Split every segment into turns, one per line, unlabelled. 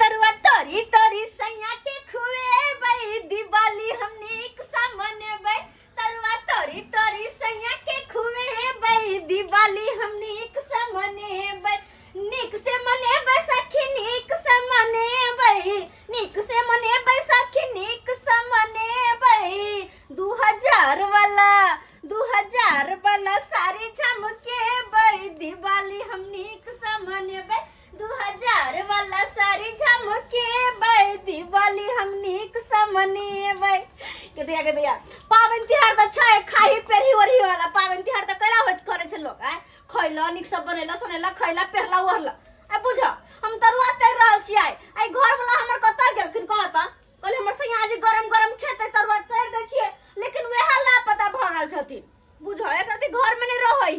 तरुआ तरी तरी सैया के खुएबै दिवाली हम नीक सा मनेबै तरुआ तरी तरी सैया के खुएबै दिवाली हम नीक सा मनेबै नीक से मनेबै सखी नीक से मनेबै नीक से मनेबै सखी नीक से मनेबै दू हजार वाला दू हजार वाला साड़ी झमकेबै दिवाली हम नीक से मनेबै दू हजार वाला साड़ी झमकेबै दिवाली हम नीक से मनेबै के दिया के दिया पाबनि तिहार तऽ छै खाही पेरही ओरही वाला पाबनि तिहार तऽ कैला होत करै छै लोग आय खैला नीक से बनेला सुनेला खैला पेहला ओढ़ला आ बुझ हम तरुआ तैर रहल छी आय आय घर वाला हमर कतऽ गेलखिन कहाँ तऽ कहले हमर सैया आज गरम गरम खेतै तरुआ तैर दै छियै लेकिन वएह लापता भऽ गेल छथिन बुझ एकर घर में नहि रहै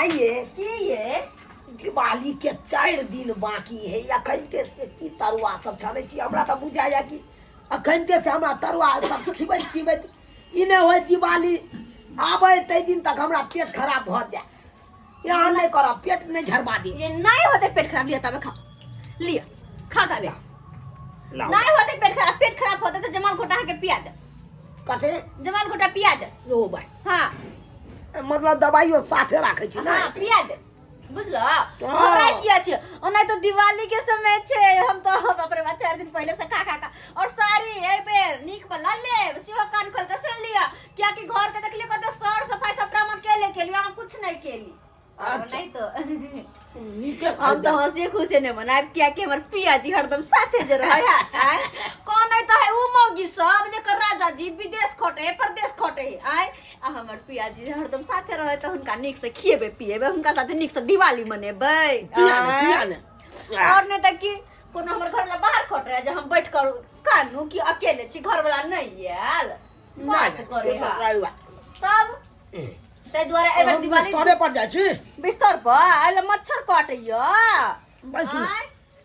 आइए
की ये
दिवाली
के चारि दिन बाकी है अखनते से की तरुआ सब छानै छी हमरा तऽ बुझाइया कि अखनते से हमरा तरुआ सब खिबैत खिबैत ई नहि होय दिवाली आबै ताहि दिन तक हमरा पेट खराब भऽ जाय यहाँ नहि करब पेट नहि झरबा दी ये नहीं होते पेट खराब
लिया तबे खा लिया खा तबे लाउ। नहीं होते पेट खराब पेट खराब होते तो जमाल घोटा के पिया दे कथी
जमाल घोटा पिया
दे लो भाई हाँ मतलब
दवाइयो साथे राखै छी हाँ पिया दे
बुझलो हमरा किया छै ओना तो दिवाली के समय छै हम तो अपने बा चार दिन पहले से खा खा का और सारी ए पे नीक बला ले सिहो कान खोल के सुन लिया क्या कि घर के देखलिए कते सर सफाई सब काम अकेले के लिए कुछ नहीं केली हम तो हंसी खुशी ने मनाब किया कि हमर पिया जी हरदम साथे जे रहे आय कौन है तो है उ मौगी सब जे कर राजा जी विदेश खोटे प्रदेश खोटे आय आ हमर पिया जी हरदम साथे रहे तो हुनका नीक से खिएबे पिएबे हुनका साथे नीक से दिवाली मनेबे आय। और नहीं तो कि कोनो हमर घर में बाहर खोट रहे जे हम बैठ कर कानू कि अकेले छी घर वाला नहीं आयल बात करे हा। तब ताहि दुआरे एहि बेर दिवाली बिस्तरे पर जाइ छी
बिस्तर पर
आइले मच्छर काटैया भाइ सुन
आँय?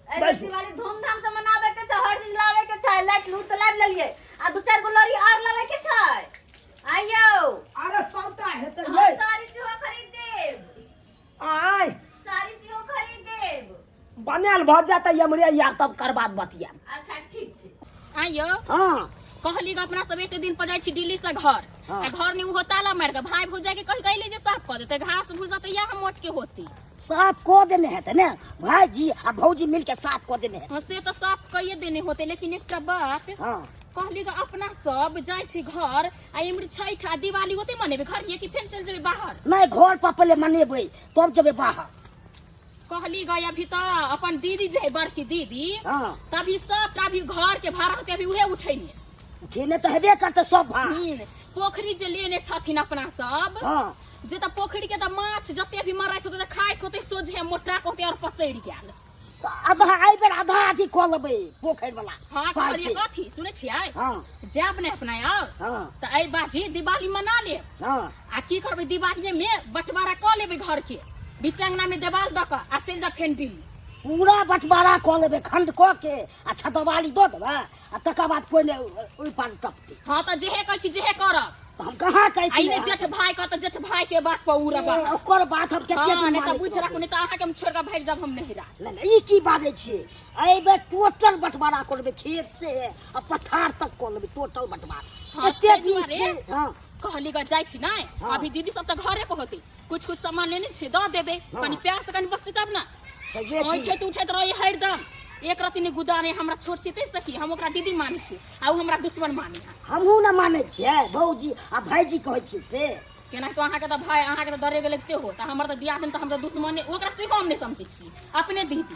एहि बेर
दिवाली धूमधाम से मनाबे के छै हर चीज लाबे के छै लाइट लूट तऽ लाबि लेलियै आ दू चारि गो लड़ी आर लाबे के छै आइयो अरे सबटा
हेतै हम यै साड़ी सेहो खरीद
देब आय
साड़ी सेहो
खरीद देब बनायल भऽ जात
हमरे यार तब कर बात बतिया अच्छा
ठीक छै आ यौ हाँ
कहली अपना
सब एक दिन पर जाइ छी दिल्ली से घर हाँ। आ घर ने उहो ताला मार के भाई भौजाई के कह गईले जे साफ कर देते घास भूसा त या हम मोट के होती साफ को देने
हेतै ने भाईजी आ भौजी मिल के साफ को देने हेतै हाँ, से तो साफ कइए देने
होते लेकिन एकटा बात हाँ कहली
ग अपना
सब जाइ छी घर आ इमरी छठ आ दिवाली होते मनेबे घर ये कि फेर चल जेबे बाहर नहीं घर पर पहले
मनेबै तब जेबै बाहर कहली
गई अभी तो अपन दीदी जे है बड़की दीदी हाँ तभी
सब का
भी घर के भाड़ा होते अभी उहे उठेने उठेने तो हेबे
करते सब भाग हम्म, पोखरी जे लेने
छथिन अपना सब हाँ जे त
पोखरी के
त माछ जते भी मारत होते त खाइत होते सोझे मोटा होते और पसैर गेल तो अब आई
बेर आधा आधी कह लेबै पोखरि वाला हाँ पाइ कहलिए छै। कथी
सुने छियै हाँ जाब ने
अपना यार
हाँ त ऐ बाजी दिवाली मना ले हाँ आ की
करबै
दिवालिये में बंटवारा कऽ लेबै घर के बीच अंगना में देवाल दऽ कऽ आ चलि जा फेन दिल्ली पूरा बंटवारा
कऽ लेबै खंड कऽ के आ छतवाली दऽ देबै आ तकर बाद कोइ नहि ओहि पार टपतै हाँ तऽ जेहे कहै छी
जेहे करब तऽ हम कहाँ कहै छी
आइने जेठ भाई कहत जेठ
भाई के बात पर उड़ा बात ओकर बात हम कते
हाँ दिन नहि तऽ बुझ राखू नहि तऽ अहाँके
हम छोड़ कऽ भागि जाब हम नहिरा नहि नहि, ई की बाजै
छियै एहि बेर टोटल बंटवारा कऽ लेबै खेत से आ पथार तक कऽ लेबै टोटल बंटवारा हाँ, एते ताहि दिन दुआरे- से हाँ कहली गर जाइ छी
नै हाँ। अभी दीदी सब त घरे पर होती कुछ कुछ सामान लेने छी द देबे हाँ। कनी प्यार से कनी बसती तब ना सहिए ओइ की छै तू
उठैत रही
हरदम एक रति ने गुदाने हमरा छोट छी ते सखी हम ओकरा दीदी मानै छी आ उ हमरा दुश्मन मानै है हमहूँ ने मानै
छियै भौजी आ भाइजी कहै छी से केना तो अहाँके तऽ
भाय अहाँके तऽ डरे गेल एते हो तऽ हमर तऽ दियाद तऽ हमरा दुश्मने ओकरा से हम नहि समझै छी अपने दीदी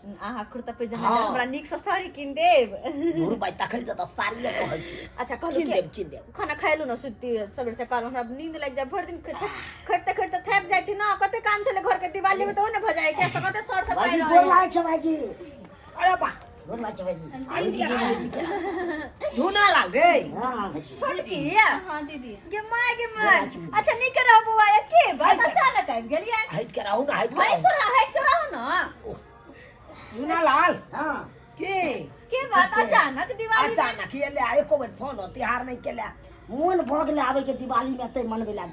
अहाँ कुर्ता पे जहाँ हँ। हमरा नीक से साड़ी
किन
देब दू रुपैआ तखन
से तऽ साड़िए कहै छी अच्छा कहलू कीन कि देब कीन
देब खाना
खाइलू
ना
सुती
सबेर से काल हमरा नींद लागि जाए भरि दिन खटते खटते थक जाइ छी ना कते काम छले घर के दिवाली में तो ना भऽ जाए के तऽ कते सर से भाइजी पाइ गोर रहल। लागै छै भाइजी
अरे बा गोर लागै छै भाइजी आलू दीदी भाइजी के। धुना लाल गे हँ छोटकी
हाँ दीदी
गे माय गे माय
अच्छा नहीं करा बुआ ये के बात अचानक आबि गेलिए हाइट कराओ ना हाइट भाई
सोरा हाइट कराओ
ना
सुना लाल हां के के बात अचानक
दिवाली अचानक ये ले आए को
फोन तिहार नहीं केला मोन भोग ले आवे के दिवाली में ते मनबे लाग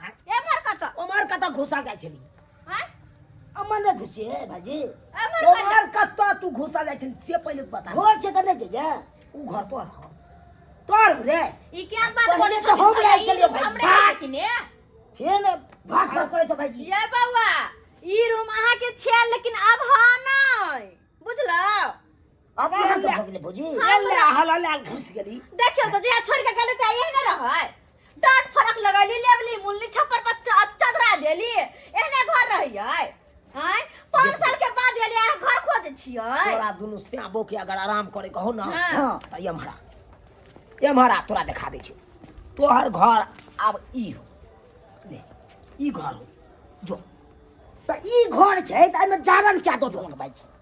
एमहर
कत ओमहर कत घुसा जाइ
छली हैं
अमन ने
घुसे है भाजी एमहर कत ओमहर
कत तू घुसा जाइ छली से पहिले बता घर से कने जे जा
उ घर तोर ह
तोर हो रे ई क्या बात पहिले बोले
तो हम रहे छलियै
भाई। हमरे भाग। किने
हे ने
भाग भाग करे छ भाजी ये बौआ
ई रूम अहाँ के छे लेकिन अब हा नै बुझलौ अब
कहाँ के भगले भौजी ले हला ले
घुस गेली देखियो तो जे छोड़
के गले त आइए न रहै डांट फरक लगैली लेवली मुल्ली छप्पर पर चा- चदरा देली एहने घर रहियै हैं पाँच साल के बाद एली अहाँ घर खोज छियै तोरा दुनू श्यामो
के अगर आराम करे कहो ना हाँ। हाँ, त एम्हरा एम्हरा तोरा देखा दै छियो तोहर घर आब ई हो ले, ई घर हो जो त
ई घर छै त एमे जारन क्या दो दोलक भाई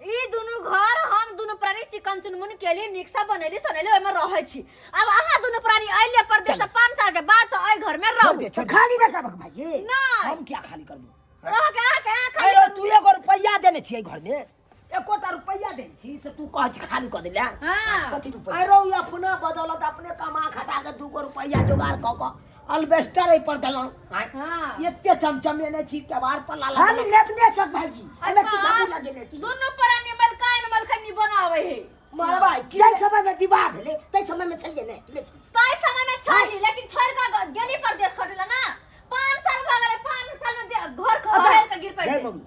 ई दुनू घर हम दुनू प्राणी चिकन चुनमुन केली निकसा बनेली सनेली ओहिमे रहै छी अब अहाँ दुनू प्राणी अइले परदेश से पाँच साल के बाद तो एहि घर में छोड़ रहू दे, छोड़ दे। खाली ना करबक
भाईजी नहीं। हम क्या खाली
करबो
रह के अहाँ के अहाँ खाली
अरे तू एगो रुपैया देने
छियै घर में एकोटा रुपैया देने छी से तू कहै छी खाली कऽ देला हाँ। कथी रुपैया
अरे ई
अपना
बदौलत अपने कमा खटा के दूगो रुपैया जोगाड़ कऽ कऽ अलबेस्टर एहि पर देलहुं आय हाँ। एते
चमचमेने
छी केवार पर लाला हम लेबने सब
भाजी एमे किछ अच्छा, आगू लगेने छी दुनू परानी मलकान
मलखनी बनावे है मरबा की जय
समय में विवाह भेले
तै समय में छलिए ने ले छी। ताई समय में छली
लेकिन छोड़ का ग- गेली परदेश खटेला ना पाँच साल भऽ गेलै पाँच साल में दे- घर खबर के गिर पड़ि जय गेली। मम्मी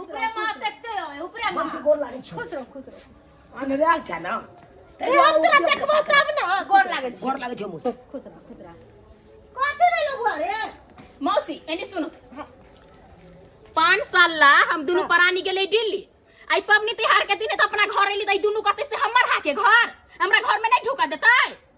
उपरे माँ देखते हो उपरे माँ
हमसे गोर लागे खुश रहो खुश रहो
अनरा छ न ए, हम तोरा देखबो तब ना गोर लागै छी गोर लागे छ मुस खुश रहो
खुश
रहो कथी भेलो बुआ रे मौसी एनी
सुनो पाँच साल ला हम दुनू परानी गेले दिल्ली आई पबनी तिहार के दिन त अपना घर एली त ई दुनू कते से हमर हाके घर हमरा घर में नहीं ढुका देतै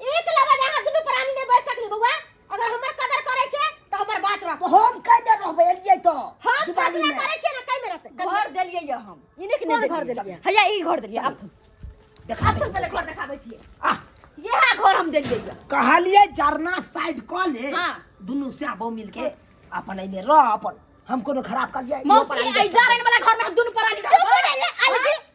एक लबा जे अहाँ दुनू प्राणी नहि बैस सकली बौआ अगर हमर कदर करै छै तऽ हमर बात रख तो हम कहीं में रहबे
एलिए तो हम दिवाली फैसला में
करै छियै ने
कई में रहतै
घर देलियै या हम ई नहि कि कोन नहि घर देलियै देलियै? हैया ई घर देलियै आब देखा आब तुम
पहिले घर देखाबै
छियै आ इएह घर हम देलियै या कहलिए जरना
साइड क ले हाँ। दुनू से
आबो
मिल के अपन एमे रह अपन हम कोनो खराब कर दिया मौसी आई जारन वाला
घर में हम दुनू प्राणी चुप रहबै। रह ले अलगे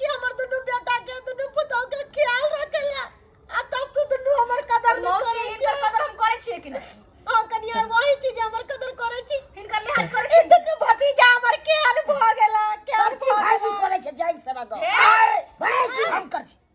कि हमर दुनू बेटा के दुनू पुतौ के ख्याल रखेला आ तब तू दुनू हमर कदर नहीं मौसी करे हिनकर कदर हम करे छिए कि नहीं हां कनिया वही चीज हमर कदर करे छी हिनकर लिहाज करे ई छिए दुनू भतीजा हमर के
अनुभव गेला
के सब
चीज
भाई जी
अनुभव करे
छे जाइन
सब
आगे
हे! भाई जी हम कर छी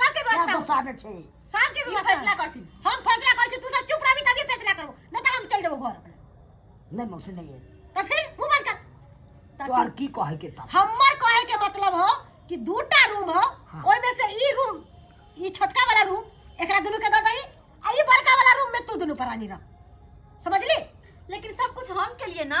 सबके
क्या व्यवस्था गुस्सा में छे सबके
ई व्यवस्था फैसला
करथिन
हम
फैसला
कर छी तू
सब चुप रहबी तभी फैसला करबो नहीं तो हम चल देबो घर अपने नहीं मौसी नहीं है
तो फिर मुंह बंद कर
तो तो और
की कहे
के
तब हमर कहे के मतलब
हो कि दूटा रूम हो हाँ। ओइ में से ई
रूम
ई छोटका वाला रूम एकरा दुनु के दे दही आ ई बड़का वाला रूम में तू दुनु परानी रह समझली लेकिन सब
कुछ हम के लिए ना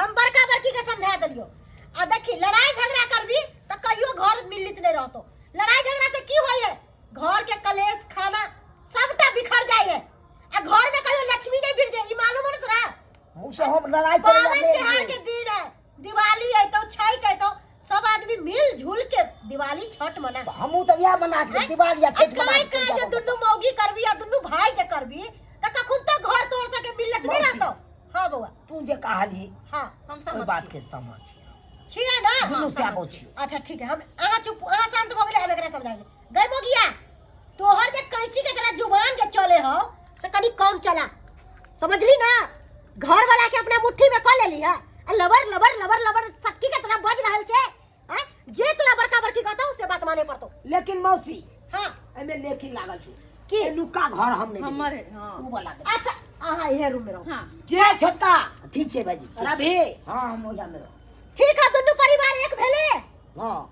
हम बड़का बड़की के समझा देलियो आ देखी लड़ाई झगड़ा करबी तो कहियो घर मिलित नहीं रहतो लड़ाई झगड़ा से की होई है घर के कलेश खाना सबटा बिखर जाई है आ घर में कहियो लक्ष्मी नहीं गिर जाए ई मालूम है तोरा मुझसे हम
लड़ाई करे पावन त्योहार के दिन
है दिवाली है तो छठ है तो सब आदमी मिल जुल के दिवाली छठ मना तो हमहू तो यह मना
के दिवाली या छठ मना के चल जाबो। दुनु
मौगी करबी या दुनु भाई के करबी त का खुद तो घर तोड़ सके मिलत नहीं मौसी। रहतो हां बउआ तू जे कहली
हां हम ओहि समझ
बात बात के
समझ
छिया ना
दुनू हाँ, से आबो समझ छी।
अच्छा ठीक है हम अहाँ
चुप अहाँ शांत भऽ गेलै हम एकरा समझा देबै गई मोगिया तोहर जे कैंची के तरह जुबान जे चले हो से कनी कम चला समझली ना घर वाला के अपना मुट्ठी में कर लेली है आ लबर लबर लबर लबर सक्की के तरह बज रहल छे हैं? जे तोरा बड़का बड़की कहतो से बात माने पड़तो लेकिन मौसी
हां एमे
लेकिन लागल
छु की? के लुका घर
हम नहीं
हमर है, हाँ। ऊ वाला
दे। अच्छा
अहाँ इहे
रूम में रहो हाँ जे छोटका
ठीक छै भाजी रवि हां हम ओजा में रहो ठीक है दुनू परिवार
एक भेले हां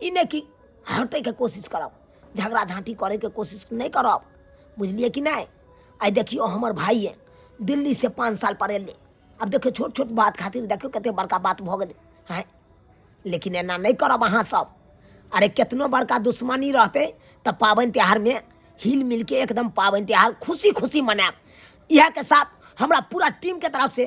ई नहि कि हटैके कोशिश करब झगड़ा झाँटी करैके कोशिश नहि करब बुझलियै कि नहि आइ देखियौ हमर भाइए दिल्लीसँ पाँच साल पर एलै आब देखियौ छोट छोट बात खातिर देखियौ कतेक बड़का बात भऽ गेलै हँ लेकिन एना नहि करब अहाँसभ अरे केतनो बड़का दुश्मनी रहतै तऽ पाबनि तिहारमे हिल मिलके एकदम पाबनि तिहार खुशी खुशी मनायब इएहके साथ हमरा पूरा टीमके तरफसँ